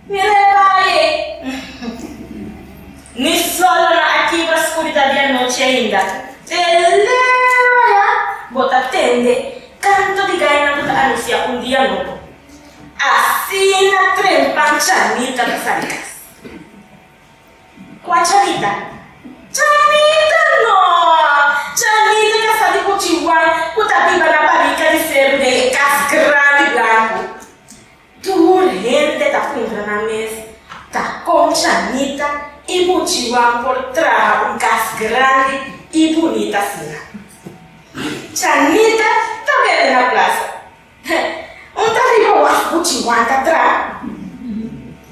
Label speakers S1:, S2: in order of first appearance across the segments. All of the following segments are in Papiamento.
S1: Mi rebaye, ni sol lo na a kibra skuridad di anochi ainda. Te lero ya bo ta tende kantu di gainan ku ta anunsiá un dia nobo. Asina trempan Chanita ta sali kas. Kua Chanita? Chanita no! Chanita ta sali ku chihuan ku ta biba na barika di seru den e kas grandi blanku. Tur hende ta puntra nan mes ta kon Shanita i Buchiwan por traha un kas grandi i bunita asina. Shanita ta bebe na plasa. Un ta riba wak Buchiwan ta traha.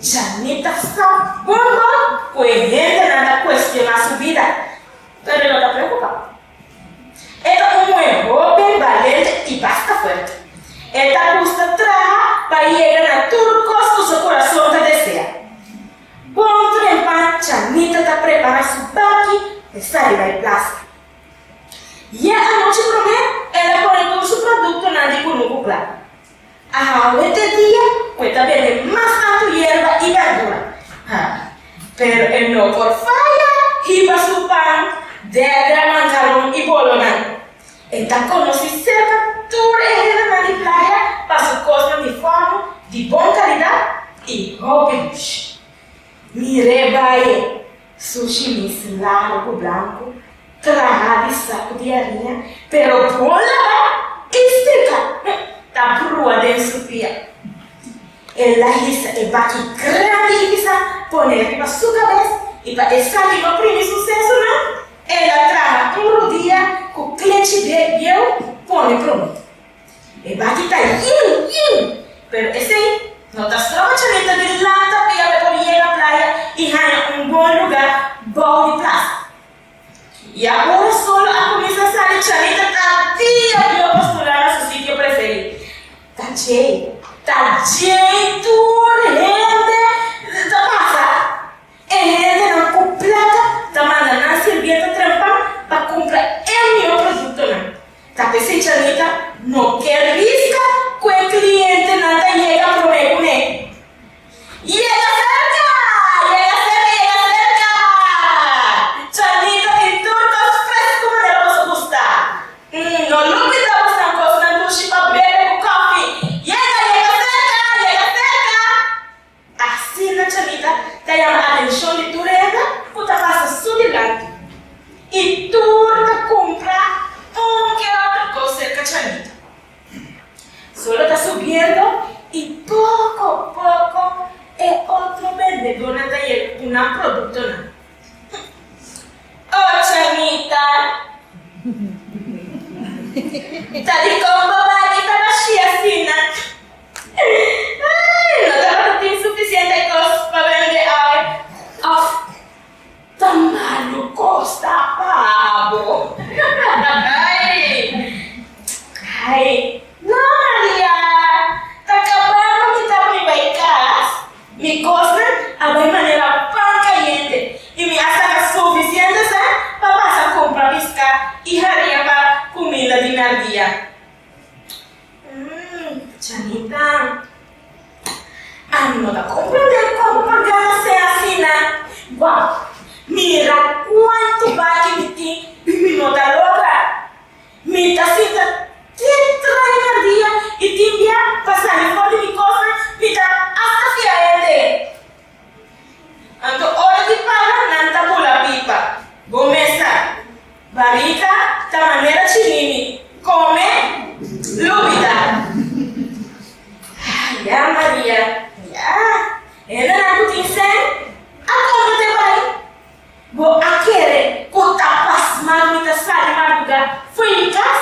S1: Shanita sa bon bon ku e hendenan ta kuestioná su bida, pero e no ta preokupa. E ta un muhe hopi balente i basta fuerte. E ta gusta traha pa yega na tur kos ku su kurason ta desea. Bon tempan Chanita ta prepara su baki pa e sa riba e plasa. Ya anochi promé el a pone tur su produktonan di kunuku kla. A hawe te dia cu e ta bende mas anto yerba y berdura. Ha, pero e no por faya hiba su pan, dedra, mancaron y bolonan. E ta conoci cerca tur e hendenan di playa pa su cosnan di forno, di bon calidad y hopi lush. Mir'é baye! Su shimis largu blanku traha di saku di ariña, pero bon laba i strika ta brua den su pia. El a hisa e baki grandi i bisa pone riba su kabes, i pa esaki di oprimi su sesunan, el a traha un rudia ku klechi bieu pone prontu. E baki ta yiu, yiu, pero esei no ta strobachamento di lanta pia pa por yega playa y haña un bon lugar bou di plaza. Y ahora solo a cuminsa sali chamita ta dia bia postula na su sitio preferi. Ta djey, ta djey tur hende ta pasa. E hendenan ku plaka ta manda nan sirbienta trempa pa kumpra e mihó produktonan. Tapesei Chanita no ke riska ku e klientenan ta yega promé ku n'e. Yega serka! Yega serka! Yega serka! Chanita tin tur kos fresku manera boso gusta. Umm, no lubi sa bosnan kosnan dushi pa bebe ku kofi. Yega! Yega serka! Yega serka! Asina Cachamita ta yama atencion di tur hende cu ta pasa su dilanti y tur ta cumpra un que otro cos cerca Cachamita. Su lo ta subiendo y poco poco e otro bendedornan ta yega cu nan productonan. Oh Chamita, ta di con bo bay y ta bashia asina? No ta lo tin sufisiente cos pa bende ai. Of ta malo cos ta paga bo. Ai, no Maria, ta caba cu mi ta bai bay cas. Mi cosnan a bay manera pan cayente y mi a saca sufisiente sa pa pasa cumpra pisca y haria pa cuminda di miardia. Mmm, Chanita, ami no ta comprende como por gana ser asina. Wao, mira cuanto bachi mi tin y mi no ta logra. Mi ta sinta te treinta dia y tin dia pa sali for di mi cosnan mi ta hasta fiaente. Anto ora di pala nan ta bula pipa, bo mesa, barika ta manera chinimi, come, lubida. Ya Maria, ya, hendenan cu tin sen a compra te bai. Bo a kere cu ta pasma mi ta sali madruga fo'i mi cas?